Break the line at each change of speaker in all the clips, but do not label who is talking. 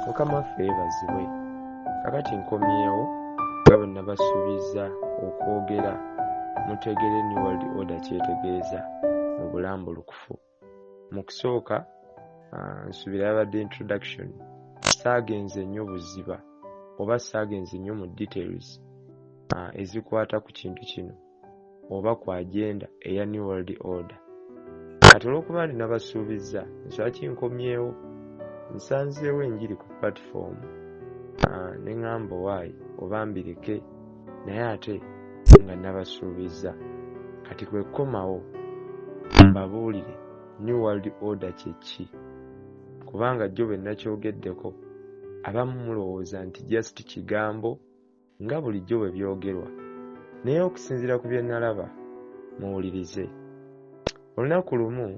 mukama ffe yebazibwe kakati nkomyewo nga bwe nabasuubiza okwogera mutegere new world order kyetegeeza mu bulambulukufu mu kusooka ah, nsuubira yabadde introduction saagenze nnyo buziba oba saagenze nnyo mu details ah, ezikwata ku kintu kino oba ku agenda eya new world order kati olwokuba nti nabasuubizza nswaki nkomyewo nsanzeewo enjiri ku platform ah, ne ŋŋamba owaayi oba mbireke naye ate nga nabasuubizza kati kwe kukomawo mbabuulire new world order kye ki kubanga jjo bwe nakyogeddeko abamu mulowooza nti just kigambo nga bulijjo bwe byogerwa, naye okusinziira ku bye nalaba, muwulirize. Olunaku lumu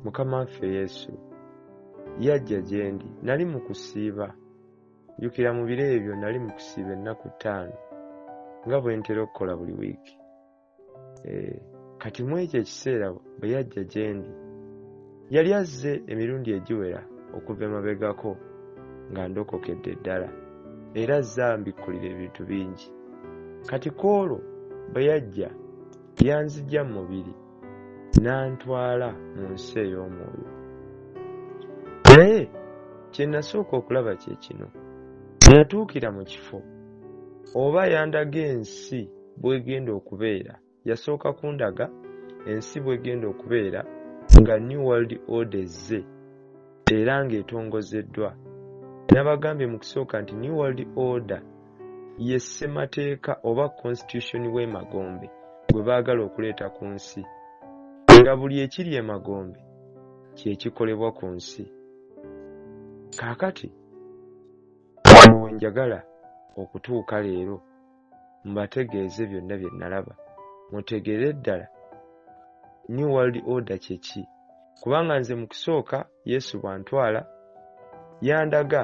Mukama waffe Yesu yajja gye ndi, nali mu kusiiba. Jjukira mu biro ebyo nali mu kusiiba ennaku ttaano nga bwe ntera okukola buli wiiki. eh, kati mu ekyo ekiseera bwe yajja gye ndi yali azze emirundi egiwera okuva emabegako nga ndokokedde ddala era azze ambikkulira ebintu bingi kati ku olwo bwe yajja yanzija mu mubiri n'antwala mu nsi ey'omwoyo naye kye nasooka okulaba kye kino natuukira mu kifo oba yandaga ensi bwegenda okubeera yasooka kundaga ensi bwegenda okubeera nga new world order ezze era ng'etongozeddwa nabagambye mu kusooka nti new world order ye ssemateeka oba constitution w'emagombe gwe baagala okuleeta ku nsi nga buli ekiri emagombe kyekikolebwa ku nsi kaakati wano wenjagala okutuuka leero mbategeeze byonna bye nalaba mutegeere ddala new world order kyeki kubanga nze mu kusooka yesu bwantwala yandaga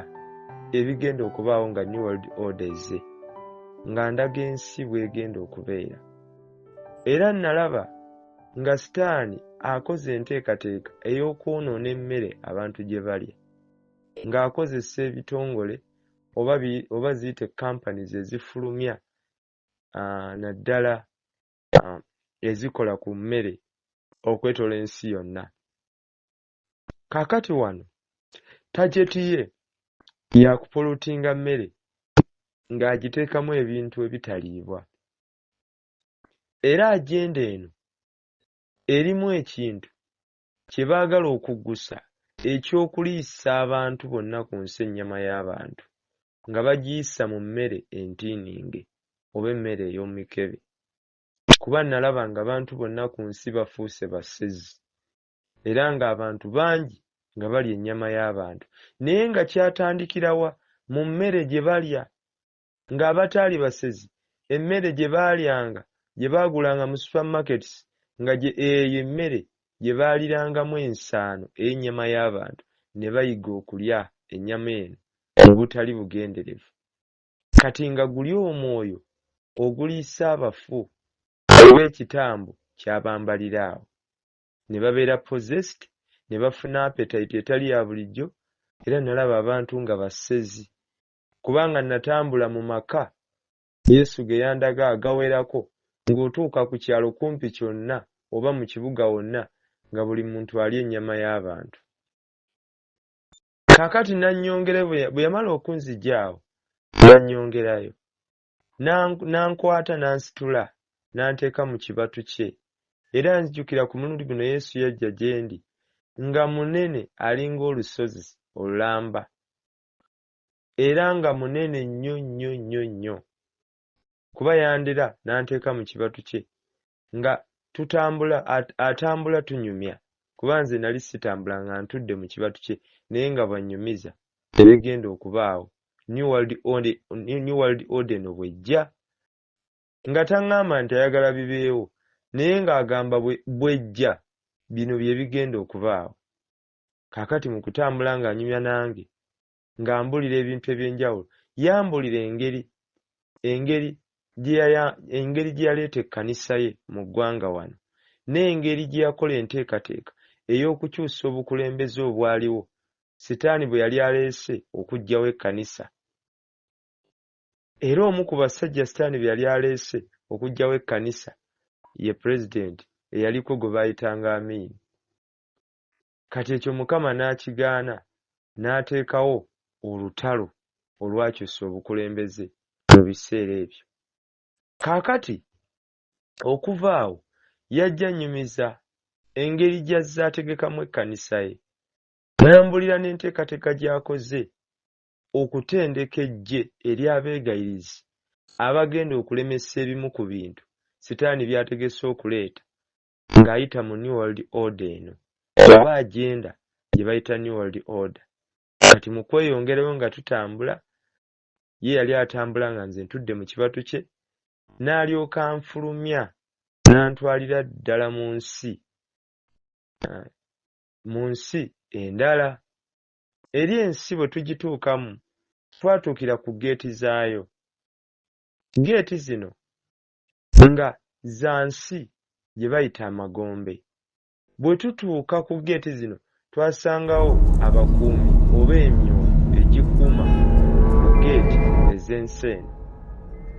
ebigenda okubaawo nga new world order eze nga ndaga ensi bwegenda okubeera era nalaba nga sitaani akoze enteekateeka ey'okwonoona emmere abantu gye balya ng'akozesa ebitongole oba oba ziyite companies ezifulumya ah, naddala ah, ezikola ku mmere okwetola ensi yonna kakati wano tajeti ye yakupulutinga mmere ng'agiteekamu ebintu ebitaliibwa era ajenda eno erimu ekintu Kye baagala okuggusa, eky'okuliisa abantu bonna ku nsi ennyama y'abantu nga bagiyisa mu mmere entiininge oba emmere ey'omu mikebe, kuba nnalaba ng'abantu bonna ku nsi bafuuse basezi, era ng'abantu bangi nga balya ennyama y'abantu. Naye nga kyatandikira wa? Mu mmere gye balya. Ng'abataali basezi, emmere gye baalyanga gye baagulanga mu supermarkets nga gye eyo emmere gye baalirangamu ensaano ey'ennyama y'abantu ne bayiga okulya ennyama eno mu butali bugenderevu. Kati nga guli omwoyo oguliisa abafu oba ekitambo kyabambalira awo ne babeera possessed ne bafuna appetite etali ya bulijjo era nalaba abantu nga basezi kubanga natambula mu maka Yesu ge yandaga agawerako ng'otuuka ku kyalo kumpi kyonna oba mu kibuga wonna nga buli muntu alya ennyama y'abantu. Kaakati nannyongere bwe yamala okunzigya awo nannyongerayo n'ankwata n'ansitula n'anteeka mu kibatu kye era nzijukira ku mulundi guno Yesu yajja gye ndi nga munene alinga olusozi olulamba era nga munene nnyo nnyo nnyo nnyo kuba yandira n'anteeka mu kibatu kye nga tutambula atambula tunyumya kuba nze nali sitambula nga ntudde mu kibatu kye naye nga bw'annyumiza ebigenda okubaawo new world order new world order eno bwejja nga taŋŋamba nti ayagala bibeewo naye ng'agamba bwejja bino bye bigenda okubaawo kaakati mu kutambula ng'anyumya nange ng'ambulira ebintu eby'enjawulo yambulira engeri engeri engeri gye yaleeta ekkanisa ye mu ggwanga wano n'engeri gye yakola enteekateeka ey'okukyusa obukulembeze obwaliwo sitaani bwe yali aleese okuggyawo ekkanisa era omu ku basajja sitaani be yali aleese okuggyawo ekkanisa ye pulezidenti eyaliko gwe baayitanga amiini Kati ekyo Mukama n'akigaana, n'ateekawo olutalo olwakyusa obukulembeze mu biseera ebyo. Kaakati, okuva awo, yajja annyumiza engeri gy'azze ategekamu ekkanisa ye, n'ambuulira n'enteekateeka gy'akoze okutendeka eggye ery'abeegayirizi abagenda okulemesa ebimu ku bintu Sitaani by'ategese okuleeta ng'ayita mu New World Order eno oba agenda gye bayita New World Order. Kati mu kweyongerayo nga tutambula, ye yali atambula nga nze ntudde mu kibatu kye, n'alyoka anfulumya n'antwalira ddala mu nsi ah, mu nsi endala. Eri ensi bwe tugituukamu, twatuukira ku geeti zaayo. Geeti zino nga za nsi gye bayita amagombe. Bwe tutuuka ku ggeeti zino twasangawo abakuumi oba emyoyo egikuuma ku ggeeti ez'ensi eno.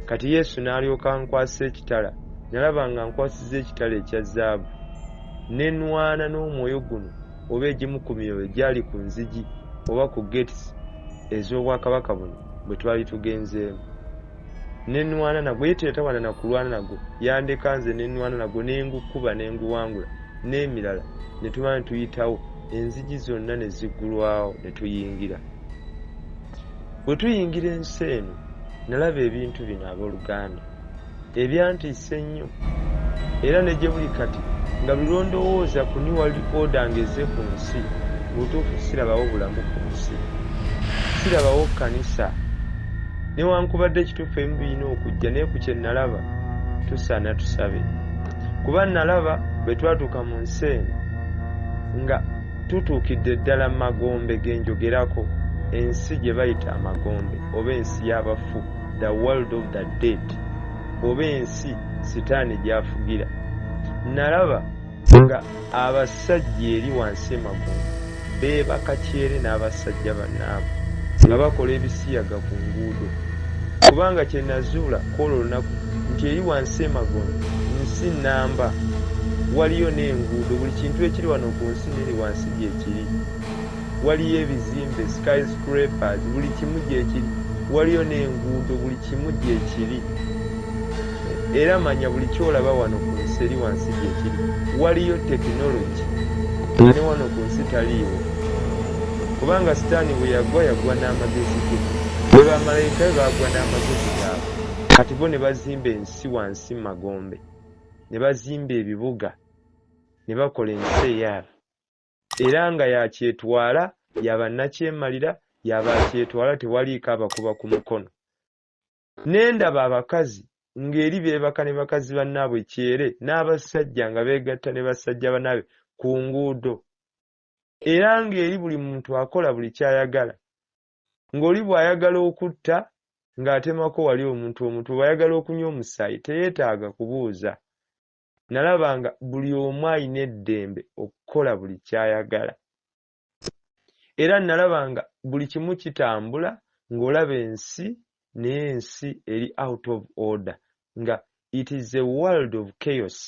Kati Yesu n'alyoka ankwasa ekitala. Nalaba ng'ankwasizza ekitala ekya zaabu. Ne nnwana n'omwoyo guno oba egimu ku myoyo egyali ku nzigi oba ku ggeeti ez'Obwakabaka buno bwe twali tugenzeemu. nenwana nagwo ye teyatawana nakulwana nagwo yandeka nze nenwana nagwo nengukuba nenguwangula nemirala netuba netuyitawo enzigi zonna nezigulwawo netuyingira wetuyingira ensi eno nalaba ebintu bino aboluganda ebyantiisa ennyo Era ne gye buli kati nga buli lwe ndowooza ku New World Order ng'ezze ku nsi, mu butuufu sirabawo bulamu ku nsi. Sirabawo kkanisa. Newankubadde kituufu ebimu birina okujja, naye ku kye nnalaba, tusaana tusabe. Kuba nnalaba bwe twatuuka mu nsi eno nga tutuukidde ddala mu magombe ge njogerako, ensi gye bayita amagombe oba ensi y'abafu, the world of the dead. oba ensi sitaani gy'afugira. Nnalaba nga abasajja eri wansi emagombe beebaka kyere n'abasajja bannaabwe nga bakola ebisiyaga ku nguudo. Kubanga kye nnazuula kw'olwo lunaku nti eri wansi emagombe nsi nnamba. Waliyo n'enguudo, buli kintu ekiri wano ku nsi n'eri wansi gye kiri. waliyo ebizimbe, sky scrapers, buli kimu gyekiri, waliyo n'enguudo, buli kimu gyekiri. Era manya buli kyolaba wano ku nsi eri wansi gyekiri. Waliyo technology nga ne wano ku nsi taliiwo. Kubanga sitaani bwe yagwa, yagwa n'amagezi ge. Be bamalayika be baagwa n'amagezi gaabwe. Kati bo ne bazimba ensi wansi mu magombe, ne bazimba ebibuga, ne bakola ensi eyaabwe. Era nga y'akyetwala, ya bannakyemalira, ya b'akyetwala tewaliiko abakuba ku mukono. Ne ndaba abakazi ng'eri beebaka ne bakazi bannaabwe kyere, n'abasajja nga beegatta ne basajja bannaabwe ku nguudo. Era ng'eri buli muntu akola buli ky'ayagala. Ng'oli bw'ayagala okutta, ng'atemako wali omuntu omutwe, bw'ayagala okunywa omusaayi, teyeetaaga kubuuza. nalaba nga buli omu alina eddembe okukola buli kyayagala era nalaba nga buli kimu kitambula ng'olaba ensi naye ensi eri out of order nga it is a world of chaos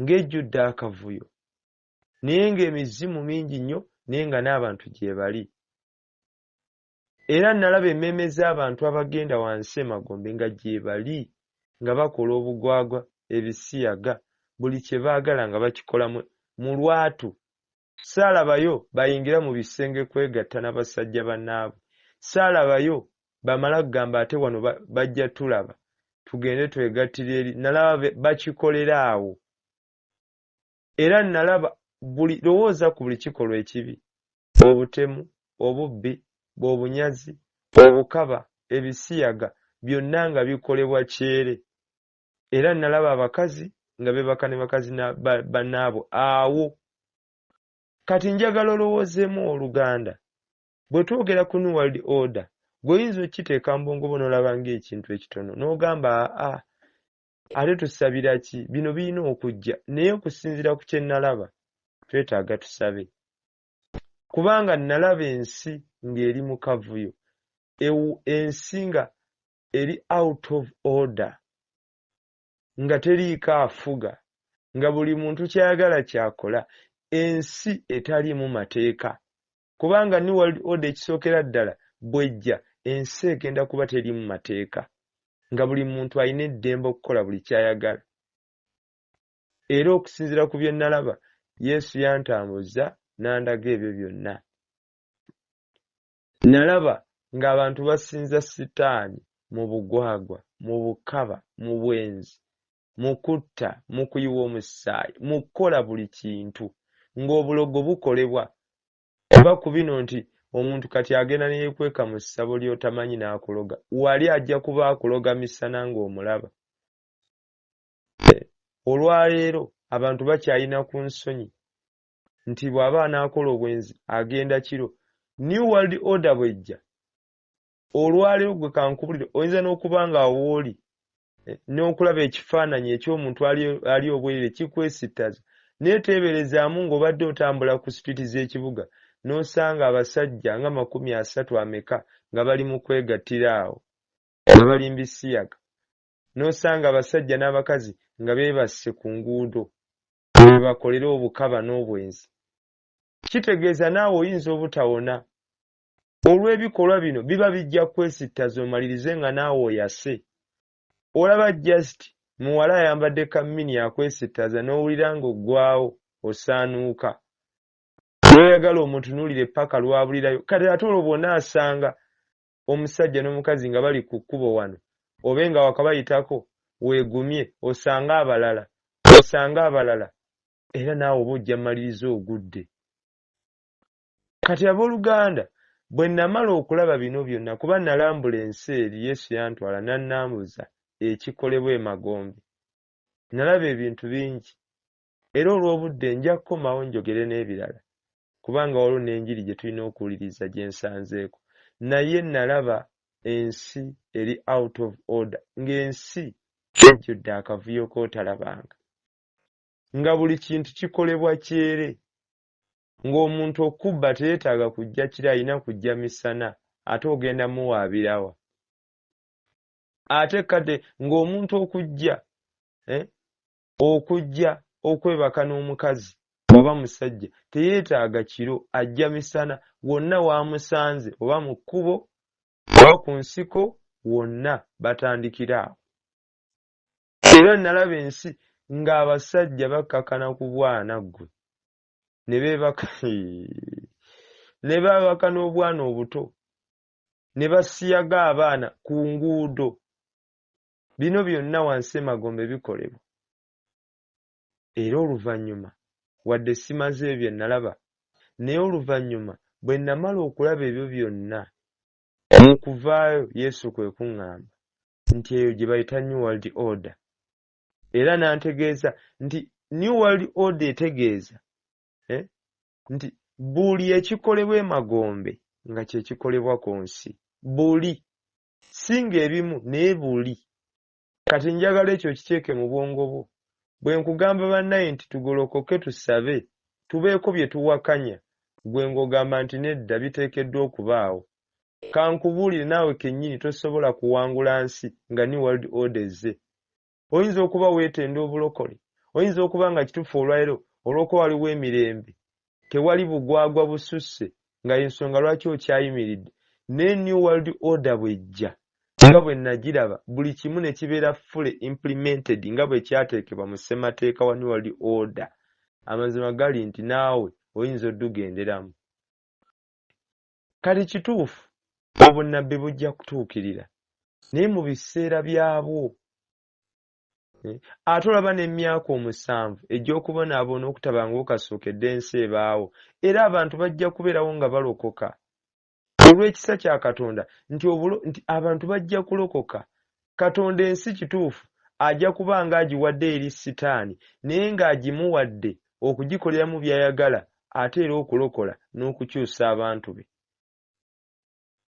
ng'ejjudde akavuyo naye ng'emizimu mingi nnyo naye nga n'abantu gyebali Era nnalaba emmeeme z'abantu abagenda wansi emagombe nga gyebali, nga bakola obugwagwa, ebisiyaga, buli kye baagala nga bakikola mu, mu lwatu. Ssaalabayo bayingira mu bisenge kwegatta na basajja bannaabwe. Ssaalabayo bamala kugamba ate wano ba, bajja tulaba, tugende twegattire eri. Nnalaba be, bakikolera awo. Era nnalaba buli, lowooza ku buli kikolwa ekibi, obutemu, obubbi, bobunyazi, obukaba, ebisiyaga, byonna nga bikolebwa kyere. Era nnalaba abakazi nga beebaka ne bakazi na, ba, bannaabwe awo. Kati njagala olowoozeemu, ow'oluganda, bwe twogera ku New World Order, ggwe oyinza okukiteeka mu bwongo bwo n'olaba nga ekintu ekitono, n'ogamba, Aa, ate tusabira ki bino birina okujja naye okusinziira ku kye nalaba twetaaga tusabe kubanga nalaba ensi ng'eri mu kavuyo ensi nga eri out of order nga teriiko afuga nga buli muntu kyayagala kyakola ensi etaliimu mateeka kubanga new world order ekisookera ddala bwejja ensi egenda kuba terimu mateeka nga buli muntu alina eddembe okukola buli kyayagala era okusinzira ku bye nalaba yesu yantambuzza n'andaga ebyo byonna nalaba ng'abantu basinza sitaani mu bugwagwa mu bukaba mu bwenzi mu kutta mu kuyiwa omusaayi mu kukola buli kintu ng'obulogo bukolebwa oba ku bino nti omuntu kati agenda ne yeekweka mu ssabo ly'otamanyi n'akuloga wali ajja kuba akuloga misana ng'omulaba olwaleero abantu bakyalina ku nsonyi nti bw'aba anaakola obwenzi agenda kiro new world order bwejja Olwaleero gwe kankubulire oyinza n'okuba nga awooli eh, n'okulaba ekifaananyi eky'omuntu ali obwerere kikwesittaza naye teeberezaamu ng'obadde otambula ku situiti z'ekibuga n'osanga abasajja nga makumi asatu ameka nga bali mu kwegattira awo nga balimba isiyaga n'osanga abasajja n'abakazi nga beebasse ku nguudo webakolera obukaba n'obwenzi kitegeeza naawe oyinza obutawona olw'ebikolwa bino biba bijja kwesittaza omalirize nga naawe oyase. Olaba just muwala ayambadde ka mini akwesittaza n'owulira ng'oggwaawo osaanuuka. N'oyagala omutunuulire ppaka lw'abulirayo kati ate olwo bw'onaasanga omusajja n'omukazi nga bali ku kkubo wano obe nga wakabayitako weegumye osange abalala osange abalala era naawe oba ojja mmaliriza ogudde. Kati, ab'oluganda, bwe nnamala okulaba bino byonna, kuba nnalambula ensi eri, Yesu yantwala n'annambuza ekikolebwa emagombe. Nnalaba ebintu bingi. Era olw'obudde, nja kukomawo njogere n'ebirala, kubanga waliwo n'enjiri gye tulina okuwuliriza gye nsanzeeko. Naye nnalaba ensi eri out of order, nga ensi ejjudde akavuyo k'otalabanga. Nga buli kintu kikolebwa kyere. ng'omuntu okubba teyetaaga kujja kiro alina kujja misana ate ogenda muwaabirawa ate kade ng'omuntu okujja eh, okujja okwebaka n'omukazi oba musajja teyeetaaga kiro ajja misana wonna waamusanze oba mu kkubo oba ku nsiko wonna batandikira awo era nalaba ensi ng'abasajja bakkakana ku bwana ggwe ne beebaka ne baabaka n'obwana obuto ne basiyaga abaana ku nguudo bino byonna wansi emagombe bikolebwa era oluvannyuma wadde simaze ebyo bye nalaba naye oluvannyuma bwe namala okulaba ebyo byonna mu kuvaayo yesu kwe kuŋŋamba nti eyo gye bayita new world order era n'antegeeza nti new world order etegeeza eh, nti buli ekikolebwa emagombe nga kyekikolebwa ku nsi buli singa ebimu naye buli kati njagala ekyo okiteeke mu bwongo bwo bwe nkugamba bannaye nti tugolokoke tusabe tubeeko bye tuwakanya gwe ng'ogamba nti nedda biteekeddwa okubaawo Kankubuulire naawe kennyini tosobola kuwangula nsi nga New World Order ezze. Oyinza okuba weetenda obulokole, oyinza okuba nga kituufu olwalero olw'okuba waliwo emirembe, tewali bugwagwa bususse nga y'ensonga lwaki okyayimiridde, naye New World Order bw'ejja, nga bwe nnagiraba, buli kimu ne kibeera fully implemented nga bwe kyateekebwa mu Ssemateeka wa New World Order, amazima gali nti naawe oyinza oddugenderamu. Kale kituufu obunnabbi bujja kutuukirira, naye mu biseera byabwo. Eh, ate olaba n'emyaka omusanvu egy'okubonaabona okutabangawo kasookedde ensi ebaawo, era abantu bajja kubeerawo nga balokoka olw'ekisa kya Katonda nti abantu bajja kulokoka Katonda ensi kituufu ajja kuba ng'agiwadde eri Sitaani naye ng'agimuwadde okugikoleramu by'ayagala ate era okulokola n'okukyusa abantu be.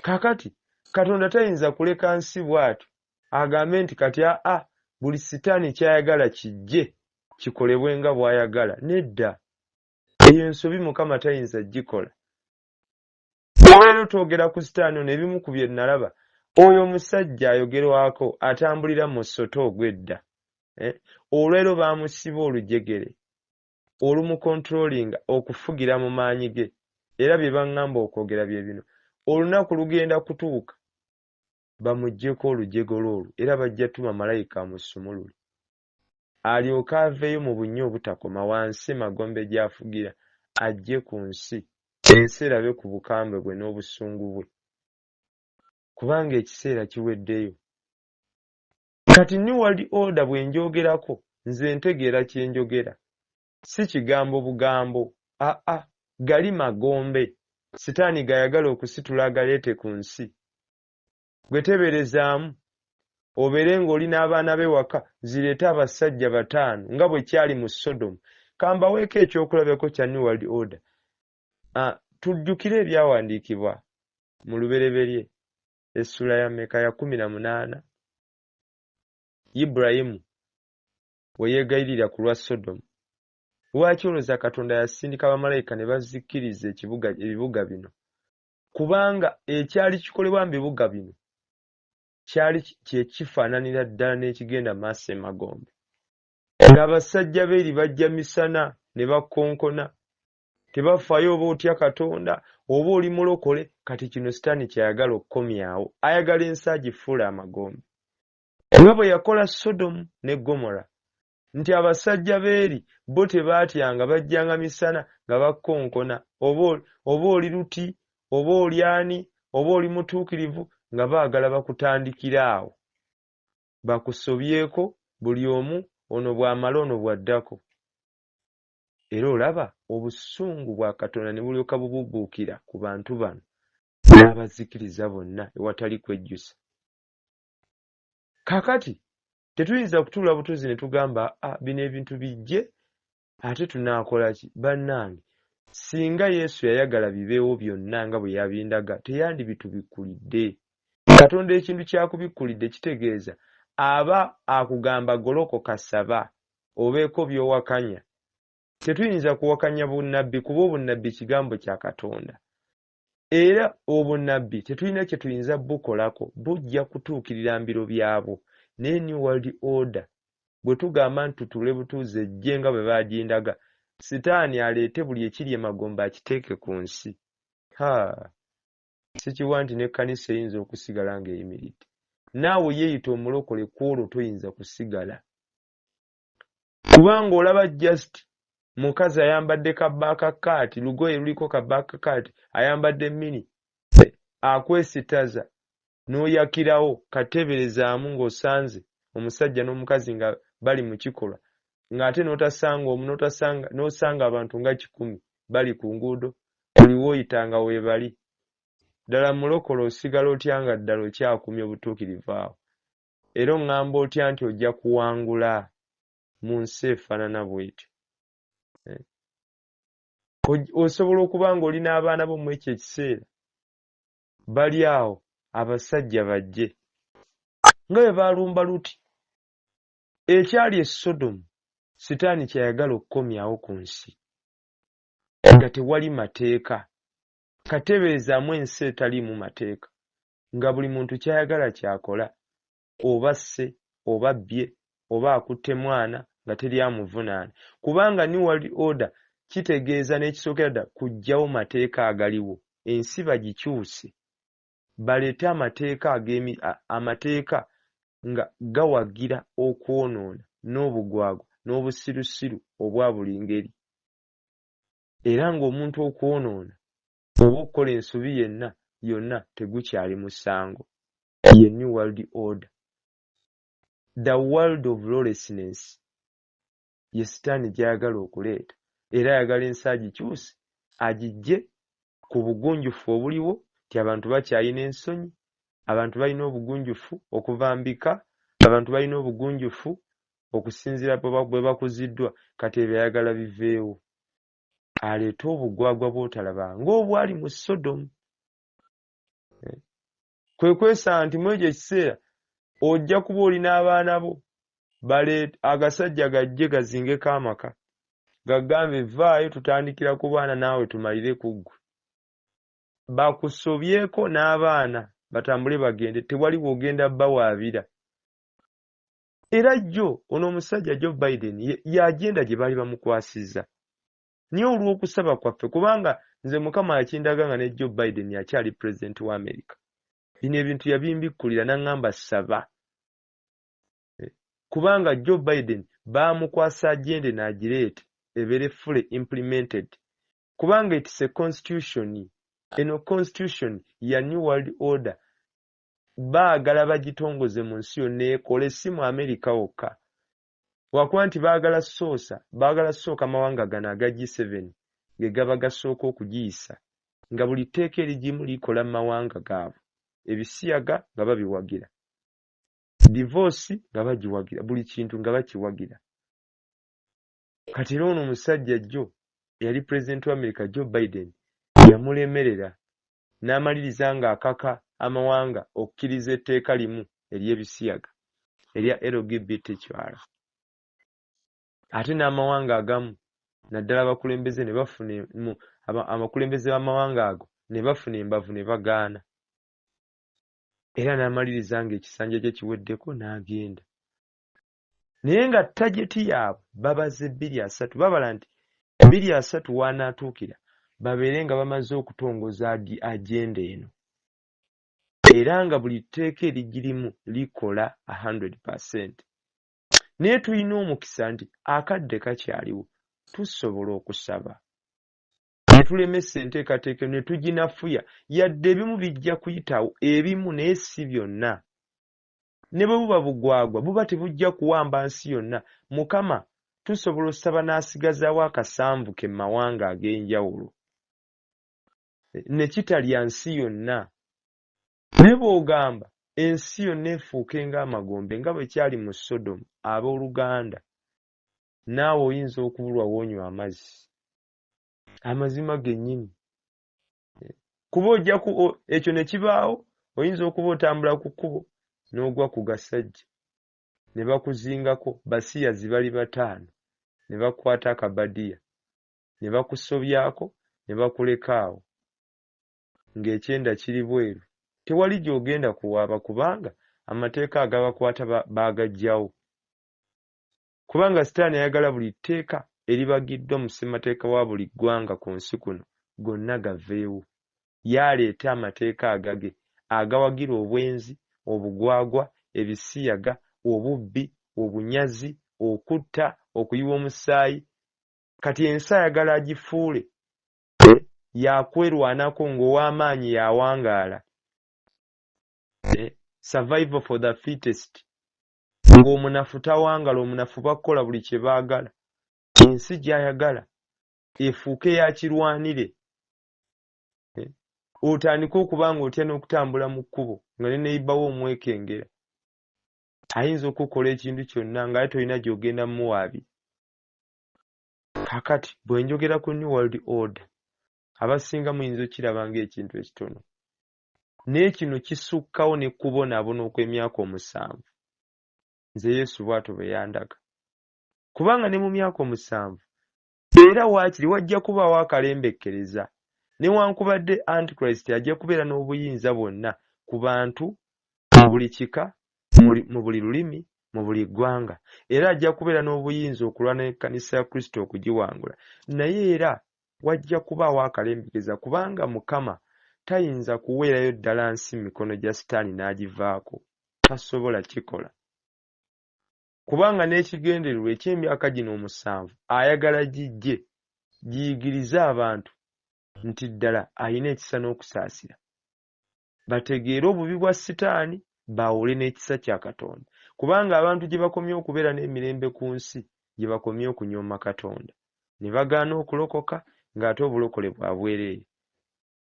Kaakati, Katonda tayinza kuleka nsi bw'atyo agambe nti kati, aa, buli Sitaani ky'ayagala kijje kikolebwe nga bw'ayagala. Nedda. Eyo nsobi Mukama tayinza kugikola. Olwaleero twogera ku sitaani ono ebimu ku bye nalaba. Oyo omusajja ayogerwako atambulira mu musota ogw'edda. Eh, olwaleero baamusiba olujegere olumukontulolinga okufugira mu maanyi ge era bye baŋŋamba okwogera bye bino. Olunaku lugenda kutuuka bamuggyeko olujegere olwo era bajja tuma malayika amusumulule. alyoke aveeyo mu bunnya obutakoma wansi emagombe gy'afugira, ajje ku nsi, ensi erabe ku bukambwe bwe n'obusungu bwe, kubanga ekiseera kiweddeyo. Kati New World Order bwe ngyogerako, nze ntegeera kye njogera, si kigambo bugambo, aa, gali magombe Sitaani g'ayagala okusitula agaleete ku nsi. gwe teberezaamu obeere ng'oli n'abaana be waka zireete abasajja bataano nga bwe kyali mu sodomu kambaweeko ekyokulabeko kya new world order ah, tujjukire ebyawandiikibwa mu lubereberye essula ya meka ya kumi na munaana iburayimu we yeegayirira ku lwa sodomu lwaki olwoza katonda yasindika bamalayika ne bazikkiriza ebibuga bino kubanga ekyali kikolebwa mu bibuga bino kyali kye kifaananira ddala n'ekigenda maaso emagombe ng'abasajja beeri bajja misana ne bakonkona tebafaayo oba otya katonda oba oli mulokole kati kino sitaani kyayagala okukomyawo ayagala ensi agifuule amagombe nga bwe yakola sodomu ne gomora nti abasajja b'eri bo tebaatyanga bajjanga misana nga bakonkona oba oba oli luti oba oli ani oba oli mutuukirivu nga baagala bakutandikire awo bakusobyeko buli omu ono bw'amala ono bw'addako era olaba obusungu bwa katonda ne bulyoka bububuukira ku bantu bano n'abazikiriza bonna ewatali kwejjusa kakati tetuyinza kutuula butuzi ne tugamba ah, bino ebintu bijje ate tunaakola ki bannange singa yesu yayagala bibeewo byonna nga bwe yabindaga teyandibitubikkulidde katonda ekintu kyakubikkulidde kitegeeza aba akugamba golokoka saba obeeko by'owakanya tetuyinza kuwakanya bunnabbi kuba obunnabbi kigambo kya katonda Era obunnabbi tetulina kye tuyinza bukolako, bujja kutuukirira mbiro byabwo. Naye New World Order, bwe tugamba nti tutuule butuuzi ejje nga bwe bagindaga, Sitaani aleete buli ekiri emagombe akiteeke ku nsi. Ha! Sikiwa nti n'ekkanisa eyinza okusigala nga eyimiridde. Naawe yeeyita Omulokole ku olwo toyinza kusigala. kubanga olaba just mukazi ayambadde kabaaka kaati lugoye luliko kabaaka kaati ayambadde mini akwesitaza n'oyakirawo kateeberezaamu ng'osanze omusajja n'omukazi nga bali mu kikolwa ng'ate n'otasanga omu n'osanga abantu nga kikumi bali ku nguudo buli wooyita nga weebali ddala mulokole osigala otya nga ddala okyakumya obutuukirivu awo Era oŋŋamba otya nti ojja kuwangula mu nsi efaanana bw'etyo? Eh? Osobola okuba ng'oli n'abaana bo mu ekyo ekiseera, bali awo abasajja bajje nga bwe baalumba Luti. Ekyali e Sodomu, Sitaani ky'ayagala okukomyawo ku nsi, nga tewali mateeka. Katebeezaamu ensi etaliimu mateeka. nga buli muntu ky'ayagala ky'akola, oba asse oba abbye oba akutte mwana nga teri amuvunaana kubanga New World Order kitegeeza n'ekisookera ddala kuggyawo mateeka agaliwo, ensi bagikyuse baleete amateeka ag'emi amateeka nga gawagira okwonoona n'obugwagwa n'obusirusiru obwa buli ngeri era ng'omuntu okwonoona oba okukola ensobi yenna yonna tegukyali musango. Ye New World Order. The world of lawlessness ye sitaani gy'ayagala okuleeta era ayagala ensi agikyuse agiggye ku bugunjufu obuliwo nti abantu bakyalina ensonyi, abantu balina obugunjufu okuva mbika, abantu balina obugunjufu okusinziira bwe bakuziddwa kati ebyo ayagala biveewo. aleete obugwagwa bwotalaba ng'obwali mu sodomu eh? kwe kwesa nti mu ekyo ekiseera ojja kuba oli n'abaana bo bale agasajja gajje gazingeko amaka gagambe vaayo tutandikira ku baana naawe tumalire ku ggwe bakusobyeko n'abaana batambule bagende tewali wogenda bawaabira era jjo ono omusajja joe biden yagenda gye baali bamukwasizza naye olw'okusaba kwaffe kubanga nze mukama yakindaga nga ne joe biden akyali pulezidenti wa amerika bino ebintu yabimbikkulira n'aŋŋamba saba eh, kubanga joe biden baamukwasa agende n'agireete ebeere fully implemented kubanga it's a constitution eno constitution ya new world order baagala bagitongoze mu nsi yonna ekole si mu amerika wokka lwakuba nti baagala soosa baagala sooka mawanga gano aga g7 ge gaba gasooka okugiyisa nga buli tteeka erigimu likola mu mawanga gaabwe ebisiyaga nga babiwagira divoosi nga bagiwagira buli kintu nga bakiwagira kati era ono omusajja jjo eyali pulezidenti wa amerika joe biden yamulemerera n'amaliriza ng'akaka amawanga okukkiriza etteeka limu ery'ebisiyaga erya lgbt kiwala ate n'amawanga agamu naddala abakulembeze ne bafuna abakulembeze b'amawanga ago ne bafuna embavu ne bagaana era n'amaliriza ng'ekisanja kye kiweddeko n'agenda naye nga tageti yaabwe babaze bbiri asatu babala nti bbiri asatu waanaatuukira babeere nga bamaze okutongoza agenda eno era nga buli tteeka erigirimu likola 100 percent naye tulina omukisa nti akadde kakyaliwo tusobola okusaba netulemesa enteekateeka netuginafuya yadde ebimu bijja kuyitawo ebimu naye si byonna ne bwe buba bugwagwa buba tebujja kuwamba nsi yonna, Mukama tusobola osaba n'asigazaawo akasanvu ke mu mawanga ag'enjawulo ne kitalya nsi yonna. Ne bw'ogamba ensi yonna efuuke ng'amagombe nga bwe kyali mu Sodomu, ab'oluganda, naawe oyinza okubulwa w'onywa amazzi. Amazima gennyini. kuba ojja ekyo ne kibaawo oyinza okuba otambula ku kkubo n'ogwa ku gasajja ne bakuzingako basiyazi bali bataano ne bakwata akabadiya ne bakusobyako ne bakuleka awo ng'ekyenda kiri bweru tewali gy'ogenda kuwaaba kubanga amateeka agabakwata baagajjawo kubanga sitaani ayagala buli tteeka eribagiddwa mu ssemateeka wa buli ggwanga ku nsi kuno gonna gaveewo, ye aleete amateeka agage agawagira obwenzi, obugwagwa, ebisiyaga, obubbi, obunyazi, okutta, okuyiwa omusaayi, kati ensi ayagala agifuule eh, yakwerwanako ng'owamaanyi yawangaala eh, survival for the fittest. ng'omunafu tawangala omunafu bakukola buli kye baagala ensi gy'ayagala efuuke yakirwanire eh, otandike okuba nga otya n'okutambula mu kkubo nga ne neyibawo omwekengera ayinza okukola ekintu kyonna ngaye tolina gy'ogenda muwaabi kakati bwe njogera ku new world order abasinga muyinza okukiraba ng'ekintu ekitono naye kino kisukkawo ne kubonaabona okw'emyaka omusanvu nze yesu bw'atyo bwe yandaga kubanga ne mu myaka omusanvu era waakiri wajja kubaawo akalembekkereza newankubadde antichrist ajja kubeera n'obuyinza bwonna ku bantu mu buli kika mu buli lulimi mu buli ggwanga era ajja kubeera n'obuyinza okulwana n'ekkanisa ya kristo okugiwangula naye era Wajja kubaawo akalembegeza kubanga Mukama tayinza kuweerayo ddala nsi mu mikono gya Sitaani n'agivaako. Tasobola kikola. Kubanga n'ekigendererwa eky'emyaka gino omusanvu ayagala gijje giyigirize abantu nti ddala alina ekisa n'okusaasira. bategeere obubi bwa sitaani baawule n'ekisa kya Katonda kubanga abantu gye bakomye okubeera n'emirembe ku nsi gye bakomye okunyooma Katonda ne bagaana okulokoka ng'ate obulokole bwa bwereere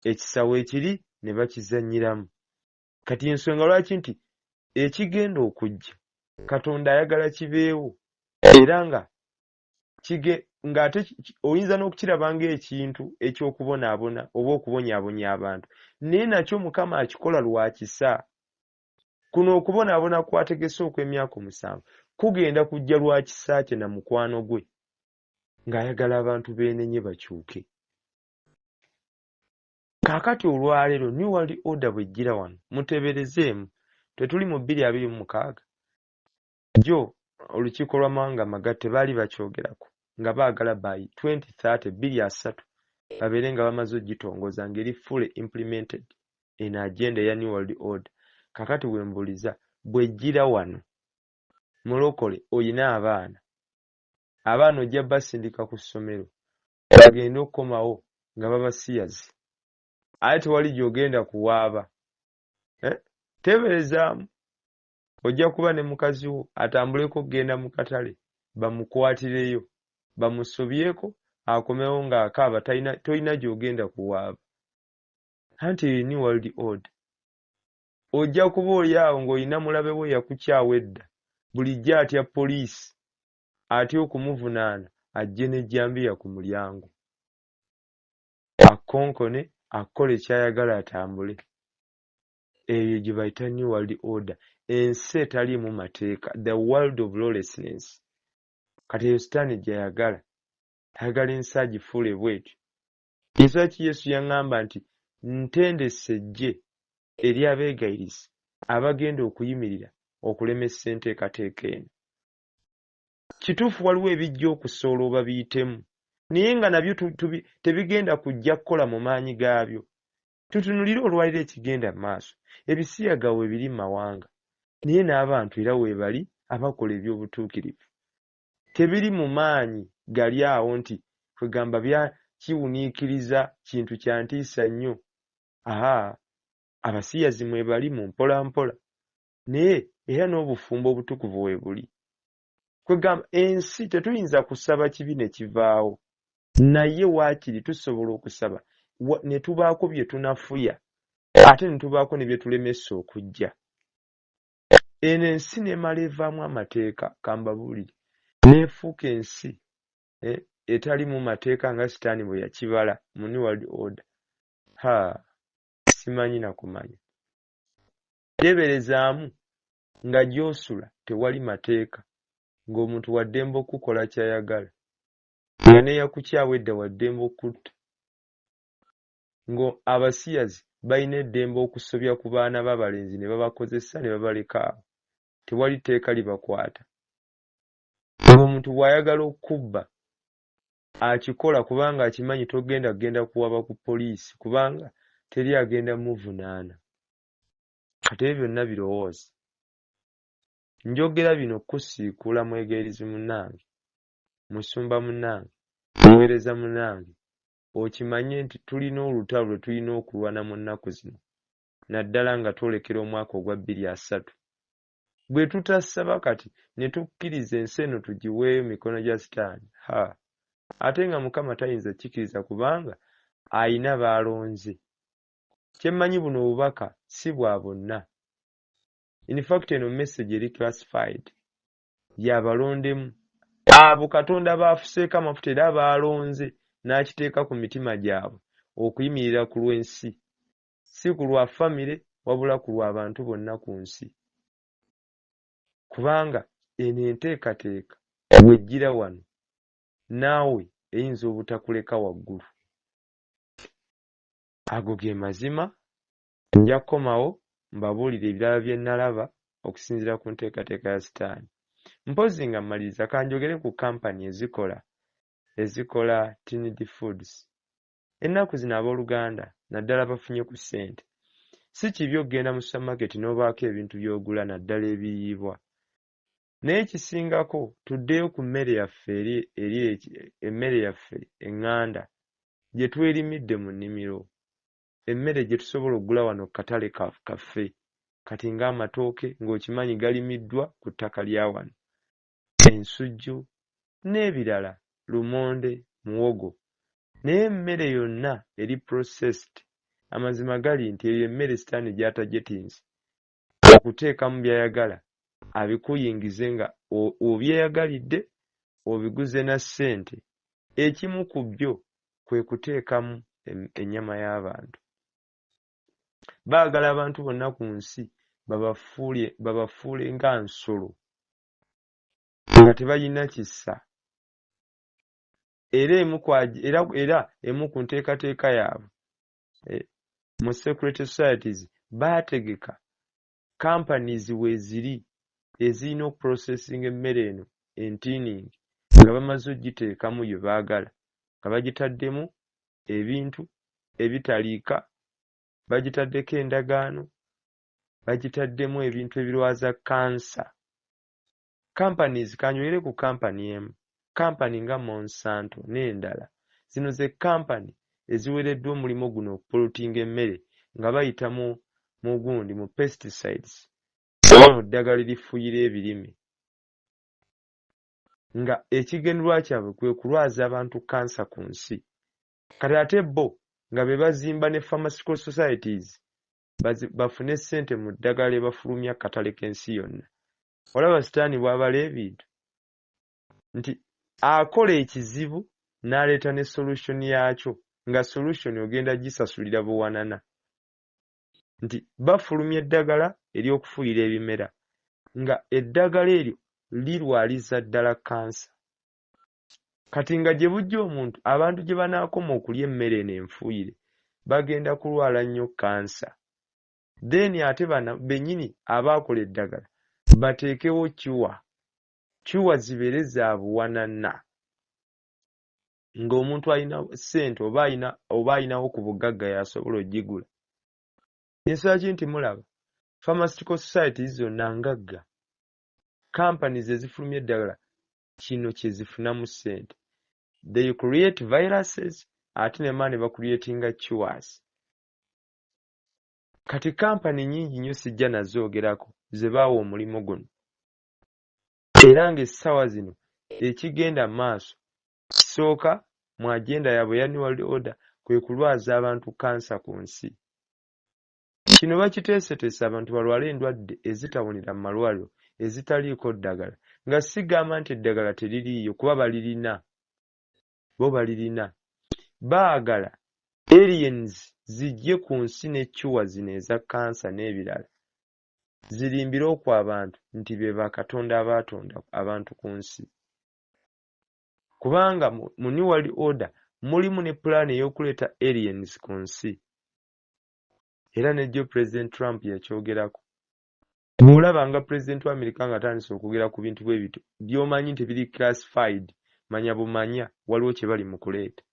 ekisa weekiri ne bakizannyiramu. Kati y'ensonga lwaki nti ekigenda okujja Katonda ayagala kibeewo era nga kige ng'ate oyinza n'okukiraba ng'ekintu eky'okubonaabona oba okubonyaabonya abantu naye nakyo mukama akikola lwa kisa kuno okubonaabona kwategese okw'emyaka omusanvu kugenda kujja lwa kisa kye na mukwano gwe ng'ayagala abantu beenenye bakyuke kaakati olwaleero new world order bwejjira wano muteberezeemu tetuli mu bbiri abiri mu mukaaga Jjo olukiiko lw'amawanga amagatte baali bakyogerako nga baagala by twenty thirty, bbiri asatu, babeere nga bamaze ogitongoza nga eri fully implemented eno agenda eya New World Order. Kaakati wembuuliza bwejjira wano mulokole olina abaana, abaana ojja basindika ku ssomero bagende okukomawo nga babasiyazi ate tewali gyogenda kuwaaba eh? Teberezaamu ojja kuba ne mukazi wo atambuleko okugenda mu katale bamukwatireyo bamusobyeko akomewo ng'akaaba tolina gy'ogenda kuwaaba anti eyo new world order ojja kuba oli awo ng'olina mulabe wo yakukyawa edda bulijjo atya poliisi atya okumuvunaana ajje n'ejjambiya ku mulyango akkonkone akukole ky'ayagala atambule eyo gye bayita new world order ensi etaliimu mateeka the world of lawlessness kati eyo sitaani gyeyagala ayagala ensi agifuule bwetyo ensonga ki yesu yaŋŋamba nti ntendese eggye eri abeegayirizi abagenda okuyimirira okulemesa enteekateeka eno kituufu waliwo ebijja okusoola oba biyitemu naye nga nabyo tebigenda kujja kukola mu maanyi gaabyo Tutunulire olwaliro ekigenda mu maaso. Ebisiyaga weebiri mu mawanga, naye n'abantu era weebali abakola eby'obutuukirivu. Tebiri mu maanyi gali awo nti, kwegamba bya kiwuniikiriza, kintu kya ntiisa nnyo. Ha, abasiyazi mwebali mu mpolampola, naye era n'obufumbo obutukuvu weebuli. kwegamba ensi tetuyinza kusaba kibi ne kivaawo naye waakiri tusobola okusaba ne tubaako bye tunafuya ate ne tubaako ne bye tulemesa okujja eno ensi n'emala evaamu amateeka kambabuulire n'efuuka ensi eh, etalimu mateeka nga sitaani bwe yakibala mu new world order ha simanyi na kumanya teeberezaamu nga gy'osula tewali mateeka ng'omuntu wa ddembe okukukola ky'ayagala nga n'eyakukyawa edda wa ddembe okukutta ng'abasiyazi balina eddembe okusobya ku baana b'abalenzi ne babakozesa ne babaleka awo tewali tteeka libakwata ng'omuntu bw'ayagala okukubba akikola kubanga akimanyi togenda kugenda kuwaba ku poliisi kubanga teri agenda muvunaana Kati ebyo byonna birowooza. Njogera bino kusiikuula mwegayirizi munnange, musumba munnange, muweereza munnange, okimanye nti tulina olutalo lwe tulina okulwana mu nnaku zino, naddala nga twolekera omwaka ogwa bbiri asatu. Bwe tutasaba kati ne tukkiriza ensi eno tugiweeyo mikono gya sitaani, ha, ate nga Mukama tayinza kikiriza kubanga alina b'alonze. kyemmanyi buno obubaka si bwa bonna in fact eno message eri classified yabalondemu abo katonda baafuseeko amafuta era baalonze n'akiteeka ku mitima gyabwe okuyimirira ku lw'ensi si ku lwa famire wabula ku lw'abantu bonna ku nsi kubanga eno enteekateeka wejjira wano naawe eyinza obutakuleka waggulu Ago ge mazima. Nja kukomawo mbabuulire ebirala bye nnalaba okusinziira ku nteekateeka ya Sitaani. Mpozzi nga mmaliriza, ka njogere ku kampani ezikola, ezikola Tinidi Foods. Ennaku zino ab'oluganda, naddala abafunye ku ssente, si kibi okugenda mu supamaketi n'obaako ebintu by'ogula naddala ebiyiibwa. Naye ekisingako tuddeyo ku mmere yaffe eri emmere yaffe enganda gye twerimidde mu nnimiro, emmere gye tusobola okugula wano ku katale kaffe kati ng'amatooke ng'okimanyi galimiddwa ku ttaka lya wano, ensujju n'ebirala, lumonde, muwogo. Naye emmere yonna eri processed, amazima gali nti eyo emmere sitaani gy'atajetinze okuteekamu by'ayagala abikuyingize nga obyeyagalidde obiguze na ssente, ekimu ku byo kwe kuteekamu ennyama y'abantu. Baagala abantu bonna ku nsi babafuule nga nsolo nga tebalina kisa era emu ku nteekateeka yaabwe eh, mu security societies baategeka companies weeziri ezirina okuprocessing emmere eno entiiningi nga bamaze okugiteekamu bye baagala nga bagitaddemu ebintu ebitaliika bagitaddeko endagaano bagitaddemu ebintu ebirwaza kansa Companies, kanjogere ku company emu, company nga Monsanto n'endala, zino ze company eziwereddwa omulimo guno okupollutinga emmere nga bayita mu mu gundi mu pesticides oba mu ddagala erifuyira ebirime nga ekigendererwa kyabwe kwe kulwaza abantu cancer ku nsi kati ate bo nga be bazimba ne pharmaceutical societies bafune ssente mu ddagala lye bafulumya ku katale k'ensi yonna. olaba sitaani bw'abala ebintu nti akola ekizibu n'aleeta ne solution yaakyo nga solution ogenda gisasulira buwanana nti bafulumya eddagala ery'okufuuyira ebimera nga eddagala eryo lirwaliza ddala kansa kati nga gye bujja omuntu abantu gye banaakoma okulya emmere eno enfuuyire bagenda kulwala nnyo kansa then ate bana benyini abaakola eddagala bateekewo cure cure zibeere za buwanana ng'omuntu alina ssente oba alina oba alinawo ku bugagga yasobola ogigula ensonga ki nti mulaba pharmastical societies zonna ngagga companies ezifulumya eddagala kino kye zifunamu ssente they create viruses ate nema ne bacreatinga cures Kati kampani nyingi nnyo sijja nazoogerako ze baawa omulimu guno era ng'essaawa zino ekigenda mu maaso kisooka mu agenda yaabwe eya New World Order kwe kulwaza abantu kkansa ku nsi. Kino bakiteeseteese abantu balwale endwadde ezitawonera mu malwaliro ezitaliiko ddagala nga sigamba nti eddagala teririiyo kuba balirina. bo balirina. Baagala aliens zijje ku nsi ne cure zino eza kkansa n'ebirala zirimbire oku abantu nti be bakatonda abaatonda abantu ku nsi. Kubanga mu New World Order mulimu ne pulaani ey'okuleeta aliens ku nsi era ne jjo Pulezidenti Trump yakyogerako. Bwolaba nga president wa America nga atandise okwogera ku bintu bwebityo byomanyi nti biri classified manya bumanya waliwo kyebali mukuleeta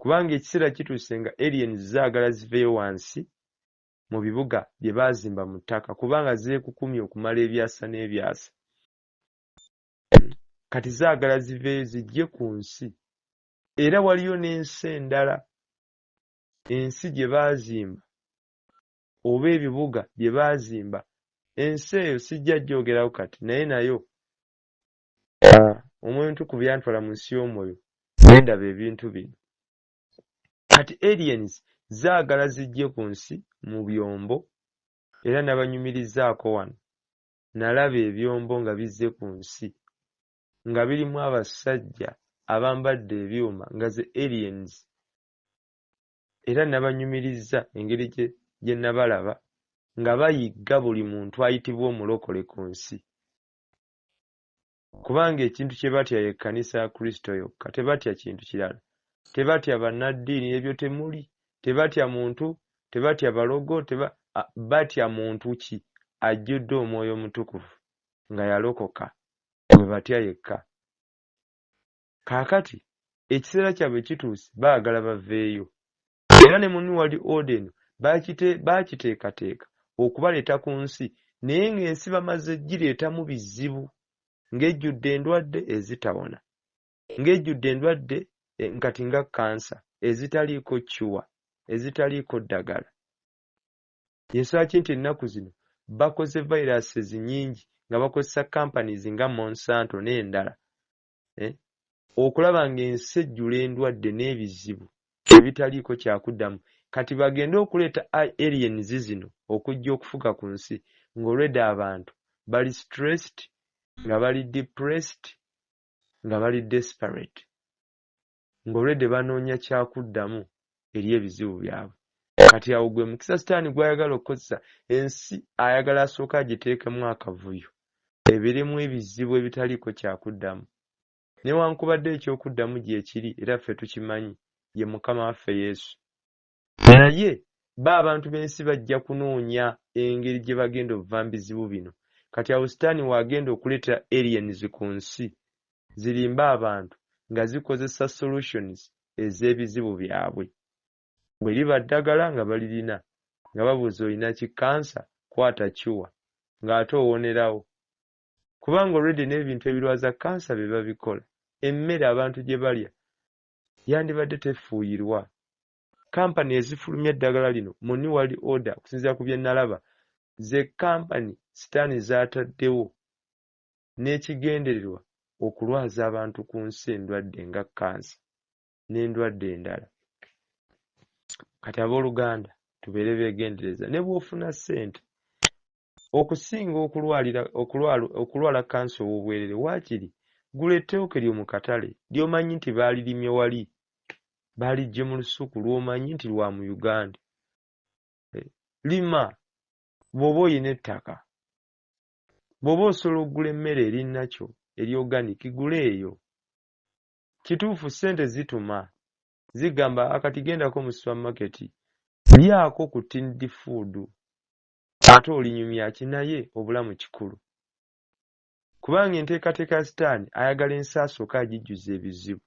kubanga ekiseera kituuse nga aliens zaagala ziveyo wansi mu bibuga bye baazimba mu ttaka kubanga zeekukumye okumala ebyasa n'ebyasa kati zaagala ziveeyo zijje ku nsi era waliyo n'ensi endala ensi gye baazimba oba ebibuga bye baazimba ensi eyo sijja gyogerako kati naye nayo ah, omwoyo ntukuvu yantwala mu nsi y'omwoyo nendaba ebintu bino kati aliens zaagala zijje ku nsi mu byombo era nabanyumirizaako wano nalaba ebyombo nga bizze ku nsi nga birimu abasajja abambadde ebyuma nga ze aliens era nabanyumirizza engeri gye nabalaba nga bayigga buli muntu ayitibwa omulokole ku nsi kubanga ekintu kye batya ye kkanisa ya kristo yokka tebatya kintu kirala tebatya bannaddiini ebyo temuli tebatya muntu tebatya balogo teba, batya muntu ki ajjudde omwoyo omutukuvu nga yalokoka gwe batya yekka Kaakati, ekiseera kyabwe kituuse, baagala baveeyo. Era ne mu New World Order eno baakite, baakiteekateeka okubaleeta ku nsi, naye nga ensi bamaze gireetamu bizibu, nga ejjudde endwadde ezitawona, nga ejjudde endwadde e, kati nga kkansa, ezitaliiko cure, ezitaliiko ddagala. Y'ensonga ki nti ennaku zino bakoze virus ezinyingi nga bakozesa companies nga Monsanto n'endala, eh, okulaba ng'ensi ejjula endwadde n'ebizibu ebitaliiko kyakuddamu kati bagende okuleeta aliens zino okujja okufuga ku nsi ng'olwedda abantu bali stressed nga bali depressed nga bali desperate nga olwedde banoonya kyakuddamu eri ebizibu byabwe. Kati awo gwe mukisa sitaani gw'ayagala okukozesa, ensi ayagala asooke agiteekemu akavuyo, ebeeremu ebizibu ebitaliiko kyakuddamu. Newankubadde eky'okuddamu gyekiri era ffe tukimanyi, ye Mukama waffe Yesu. Naye bo abantu b'ensi bajja kunoonya engeri gye bagenda obva mu bizibu bino. Kati awo Sitaani w'agenda okuleetera aliens ku nsi zirimbe abantu nga zikozesa solutions ez'ebizibu byabwe. Bwe liba ddagala nga balirina, nga babuuza olina ki kkansa, kwata cure, ng'ate owonerawo. Kubanga already n'ebintu ebirwaza kkansa be babikola. Emmere abantu gye balya yandibadde tefuuyirwa. Kampani ezifulumya eddagala lino mu New World Order okusinziira ku bye nalaba ze kampani sitaani z'ataddewo n'ekigendererwa okulwaza abantu ku nsi endwadde nga kkansa n'endwadde endala. Kati abooluganda tubeere beegendereza ne bw'ofuna ssente Okusinga okulwalira okulwala okulwala kkansa ow'obwerere waakiri gula ettooke lyo mu katale ly'omanyi nti baalirimye wali, baaliggye mu lusuku lw'omanyi nti lwa mu Uganda. Lima bw'oba olina ettaka. Bw'oba osobola okugula emmere eri nakyo eri organic gula eyo. Kituufu ssente zituma, zigamba a kati gendako mu supamaketi, lyako ku tinned food Ate olinyumya ki naye obulamu kikulu. Kubanga enteekateeka ya sitaani ayagala ensi asooke agijjuze ebizibu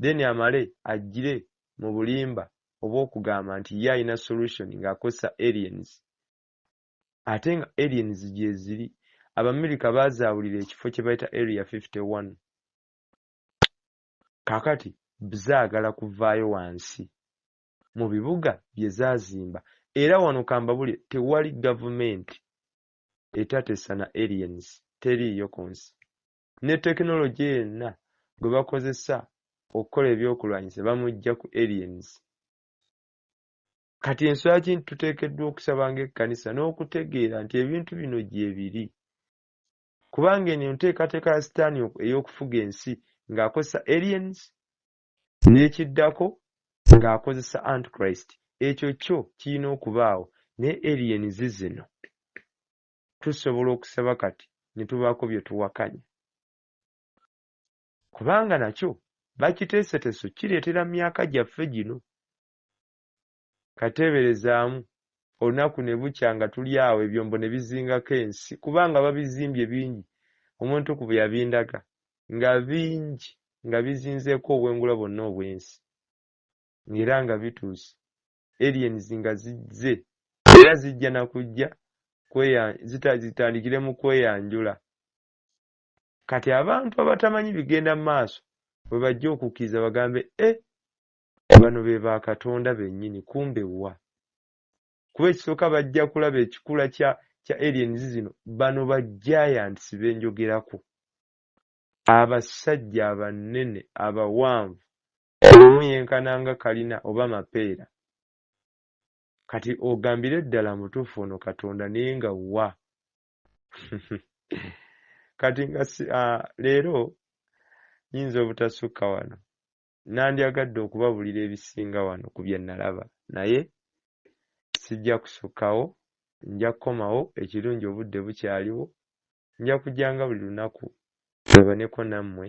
then amale ajjire mu bulimba obwokugamba nti ye alina solution nga akozesa aliens. Ate nga aliens gyeziri. Abamerica bazaawulira ekifo kyebayita area fifty one. Kakati bzaagala kuvaayo wansi. mu bibuga bye zaazimba era wano kambabulire tewali gavumenti etatesa na aliens teriiyo ku nsi ne tekinologye yenna gwe bakozesa okukola ebyokulwanyisa bamujja ku aliens kati enswera kinti tuteekeddwa okusaba ng'ekkanisa n'okutegeera nti ebintu bino gyebiri kubanga eno enteekateeka ya sitaani ey'okufuga ensi ng'akozesa aliens N'ekiddako, ng'akozesa Antichrist, ekyo kyo kirina okubaawo, naye alien zizino. Tusobola okusaba kati ne tubaako bye tuwakanya. Kubanga, nakyo bakiteeseteso kireetera myaka gyaffe gino. Kati teeberezaamu, olunaku ne bukya nga tuli awo ebyombo ne bizingako ensi, kubanga babizimbye bingi, omuntu ku bwe yabindaga, nga bingi, nga bizinzeeko obwengula bwonna obw'ensi. Nga era nga bituuse, aliens nga zizze, era zijja na kujja kweya, zita, zitandikire mu kweyanjula. Kati abantu abatamanyi bigenda mu maaso bwe bajja okukkiriza, bagambe, Eh, bano be ba katonda bennyini kumbe wa kuba ekisooka bajja kulaba ekikula kya kya aliens zino bano ba giants be njogerako abasajja abanene abawanvu omu yenkana nga kalina oba mapeera kati ogambire ddala mutuufu ono katonda naye nga wa kati nga ah, leero nyinza obutasukka wano Nnandyagadde okubabuulira ebisinga wano ku bye nnalaba, naye sijja kusukkawo. Nja kukomawo, ekirungi obudde bukyaliwo, nja kujjanga buli lunaku ŋŋabaneko nammwe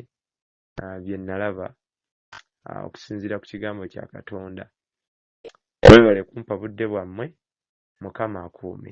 bye nnalaba okusinziira ku Kigambo kya Katonda. Mwebale kumpa budde bwammwe. Mukama akuume.